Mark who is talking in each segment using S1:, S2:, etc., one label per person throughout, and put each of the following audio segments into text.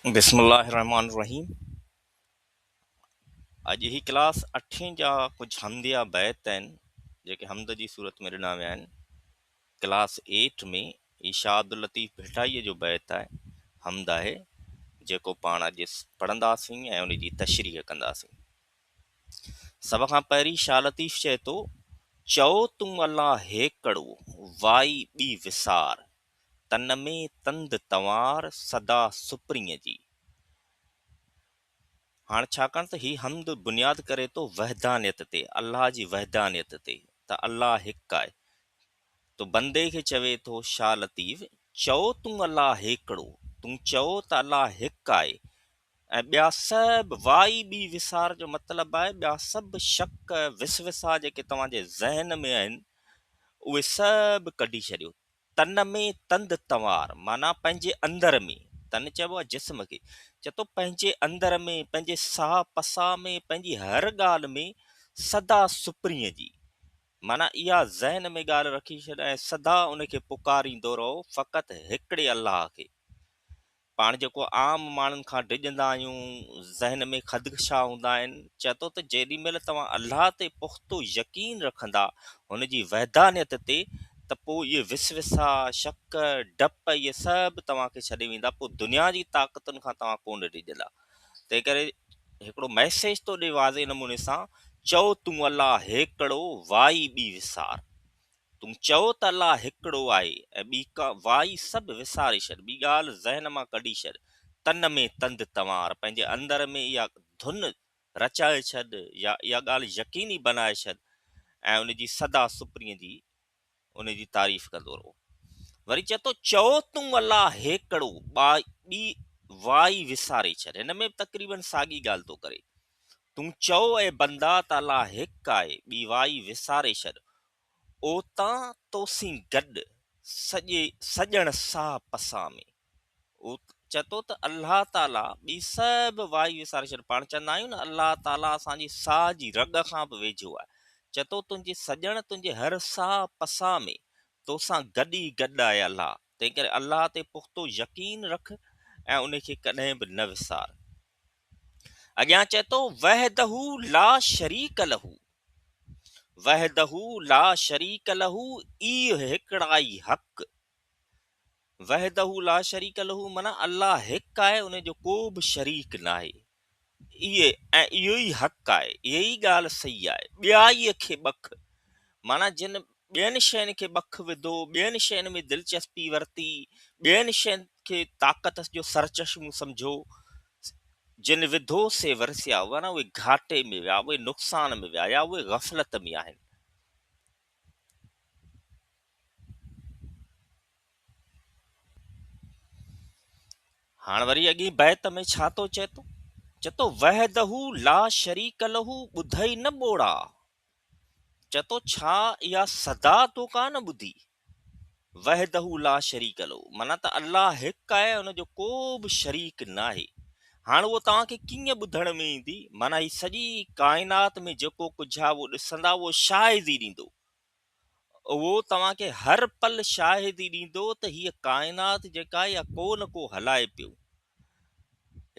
S1: بسم الله الرحمٰن الرحيم اڄ هي ڪلاس اٺين جا ڪجهه حمديا بيت آهن جيڪي حمد جي صورت ۾ ڏنا ويا آهن ڪلاس ايٽ ۾ هي شاهه عبداللطيف ڀٽائي جو بيت آهي حمد آهي جيڪو پاڻ اڄ پڙهنداسين ۽ ان جي تشريح ڪنداسين سڀ کان پهرين شاهه لطيف چئي ٿو، چئو تون الله هيڪڙو، وائي ٻي وسار، تن ۾ تند تنوار، سدا سپرينء جي. هاڻ ڇاڪاڻ ته هي حمد بنياد ڪري ٿو وحدانيت تي، الله جي وحدانيت تي ته الله هڪ آهي. تو بندي کي چوي ٿو شاهه لطيف، چئو تون الله هيڪڙو، تون چئو ته الله هڪ آهي، ۽ ٻيا سڀ واء ٻي وسار جو مطلب آهي ٻيا سڀ شڪ وسوسا جيڪي توهان جي ذهن ۾ آهن اهي سڀ ڪڍي ڇڏيو تن ۾ تند تنوار معنيٰ پنهنجي اندر ۾ تن چئبو آهي جسم کي چئي ٿو پنهنجي اندر ۾ پنهنجي ساهه پساء ۾ پنهنجي هر ڳالهه ۾ سدا سپرينء جي معنيٰ اها ذهن ۾ ڳالهه رکي ڇڏ ۽ سدا ان کي پڪاريندو رهو فقط هڪڙي الله کي پاڻ جيڪو عام ماڻهن کان ڊڄندا آهيون، ذهن ۾ خدخشا هوندا آهن، چئي ٿو ته جيڏي مهل توهان الله تي پختو يقين رکندا، هن جي وحدانيت تي، ته پوء اهي وسوسا، شڪ، ڊپ اهي سڀ توهان کي ڇڏي ويندا، پوء دنيا جي طاقتن کان توهان ڪونه ڊڄندا. تنهنڪري هڪڙو ميسيج تو ڏي واضح نموني سان، چئو تون الله هيڪڙو، وائي ٻي وسار. تون چئو ته الله هڪڙو آهي ۽ ٻي ڪا وائي سڀ وساري ڇڏ ٻي ڳالهه ذهن مان ڪڍي ڇڏ تن ۾ تند تنوار پنهنجي اندر ۾ اها ڌن رچائي ڇڏ يا اها ڳالهه يقيني بنائي ڇڏ ۽ ان جي سدا سپرين جي ان جي تعريف ڪندو رهو وري چئي ٿو چئو تون الله هيڪڙو ٻي وائي وساري ڇڏ هن ۾ به تقريبن ساڳي ڳالهه ٿو ڪري تون چئو اي بندا ته الله هڪ آهي ٻي وائي وساري ڇڏ اوتان تو سين گڏ سڄي سڄڻ ساهه پسان ۾. چئه ٿو ته الله تعاليٰ ٻي سڀ وائي وساري ڇڏ. پاڻ چوندا آهيون نه الله تعاليٰ اسان جي ساهه جي رڳ کان به ويجهو آهي. چئه ٿو تنهنجي سڄڻ تنهنجي هر ساهه پسان ۾، تو سان گڏ ئي گڏ آهي الله. تنهنڪري الله تي پختو يقين رک ۽ ان کي ڪڏهن به نه وسار. اڳيان چئي ٿو وحده لا شريڪ له وحده لا شريڪ له اي هڪڙائي حق وحده لا شريڪ له معنی الله هڪ آهي ان جو ڪو به شريڪ نه آهي اي ۽ اهو ئي حق آهي اهي ئي ڳالهه صحيح آهي ٻيائي کي بک معنی جن ٻين شين کي ٻک وڌو، ٻين شين ۾ دلچسپي ورتي، ٻين شين کي طاقت جو سرچشمو سمجهيو، جن وڌو سي ورسيا، ورنه اهي گهاٽي ۾ ويا، اهي نقصان ۾ ويا يا اهي غفلت ۾ آهن. هاڻ وري اڳين بيت ۾ ڇا ٿو چئي ٿو؟ چئي ٿو وحده لا شريڪ له ٻڌئي نه ٻوڙا چئه ٿو ڇا اها صدا تو ڪا نه ٻڌي وحده لا شريڪ لو معنيٰ ته الله هڪ آهي ان جو ڪو به شريڪ ناهي هاڻ اهو توهان کي ڪيئن ٻڌڻ ۾ ايندي معنيٰ هي سڄي ڪائنات ۾ جيڪو ڪجهه آهي اهو ڏسندا اهو شاهدي ڏيندو اهو توهان کي هر پل شاهدي ڏيندو ته هيء ڪائنات جيڪا آهي اها ڪو نه ڪو هلائي پيو.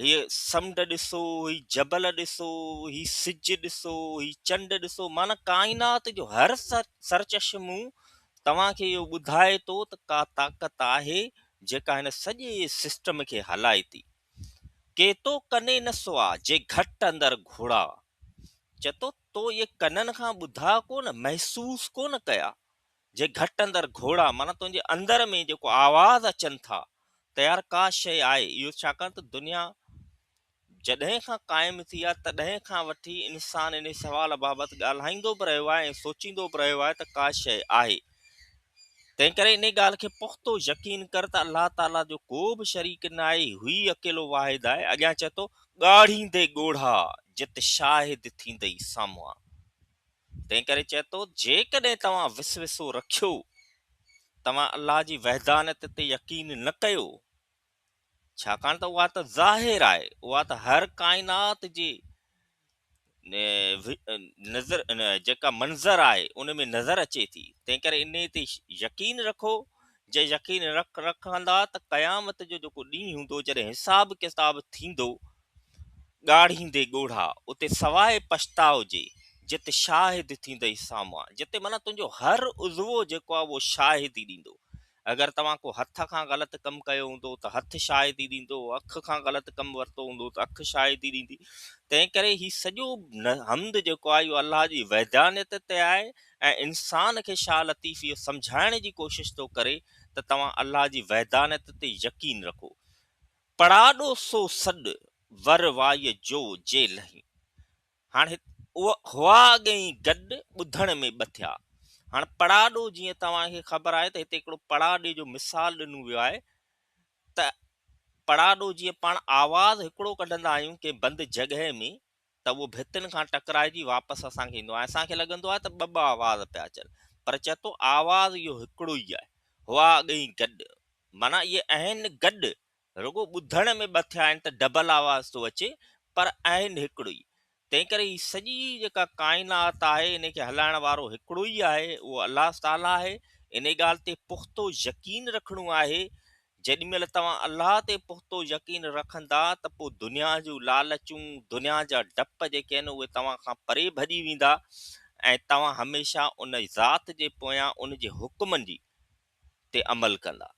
S1: هيء سمنڊ ڏسو، هي جبل ڏسو، هي سج ڏسو، هي چنڊ ڏسو، معنيٰ ڪائنات جو هر سرچشمو توهان کي اهو ٻڌائي ٿو ته ڪا طاقت آهي جيڪا هن سڄي سسٽم کي هلائي ٿي. ڪيتو ڪني نه سوا، جي گهٽ اندر گهوڙا. چتو. تو اهي ڪنن کان ٻڌا ڪونه، محسوس ڪونه ڪيا، جي گهٽ اندر گهوڙا معنيٰ تنهنجي اندر ۾ جيڪو آواز اچن ٿا ته يار ڪا شيء آهي اهو ڇاڪاڻ ته دنيا جڏهن کان قائم ٿي آهي تڏهن کان وٺي انسان انهي سوال بابت ڳالهائيندو به رهيو آهي ۽ سوچيندو به رهيو آهي ته ڪا شيء آهي تنهنڪري انهي ڳالهه کي پختو يقين ڪر ته الله تعاليٰ جو ڪو به شريڪ ناهي، هو ئي اڪيلو واحد آهي، اڳيان چئي ٿو، ڳاڙهيندي ڳوڙها جت شاهد ٿيندئي سامهوان، تنهنڪري چئي ٿو، جيڪڏهن توهان وسوسو رکيو، توهان الله جي وحدانيت تي يقين نه ڪيو، ڇاڪاڻ ته اها ته ظاهر آهي، اها ته هر ڪائنات جي نظر جيڪا منظر آهي ان ۾ نظر اچي ٿي تنهن ڪري انهي تي يقين رکو جي يقين رک رکندا ته قيامت جو جيڪو ڏينهن هوندو جڏهن حساب ڪتاب ٿيندو ڳاڙهيندي ڳوڙها اتي سواء پڇتاء جي جت شاهد ٿيندئي سامهان جتي معنيٰ تنهنجو هر عضوو جيڪو آهي اهو شاهدي ڏيندو اگر توهان ڪو هٿ کان غلط ڪم ڪيو هوندو ته هٿ شاهدي ڏيندو، اک کان غلط ڪم ورتو هوندو ته اک شاهدي ڏيندي. تنهن ڪري هي سڄو حمد جيڪو آهي اهو الله جي وحدانيت تي آهي ۽ انسان کي شاهه لطيف اهو سمجهائڻ جي ڪوشش ٿو ڪري ته توهان الله جي وحدانيت تي يقين رکو. پڙاڏو سو سڏ، ور وائيء جو جي لهين. هاڻ هت هئا اڳ ئي گڏ ٻڌڻ ۾ ٻه ٿيا. هاڻ پڙاڏو جيئن توهان کي خبر آهي ته هتي هڪڙو پڙاڏي جو مثال ڏنو ويو آهي ته پڙاڏو جيئن پاڻ آواز هڪڙو ڪڍندا آهيون ڪنهن بند جڳهه ۾ ته اهو ڀتين کان ٽڪرائجي واپس اسان کي ايندو آهي ۽ اسان کي لڳندو آهي ته ٻه ٻه آواز پيا اچن پر چئي ٿو آواز اهو هڪڙو ئي آهي هئا اڳ ئي گڏ معنيٰ اهي اهن گڏ رڳو ٻڌڻ ۾ ٻه ٿيا آهن ته ڊبل آواز ٿو اچي پر آهن هڪڙو ئي تنهنڪري هي سڄي جيڪا ڪائنات آهي انهي کي هلائڻ وارو هڪڙو ئي آهي اهو الله تعاليٰ آهي انهي ڳالهه تي پختو يقين رکڻو آهي جيڏي مهل توهان الله تي پختو يقين رکندا ته پوء دنيا جون لالچون دنيا جا ڊپ جيڪي آهن اهي توهان کان پري ڀڄي ويندا ۽ توهان هميشه ان ذات جي پويان ان جي حڪمن جي تي عمل ڪندا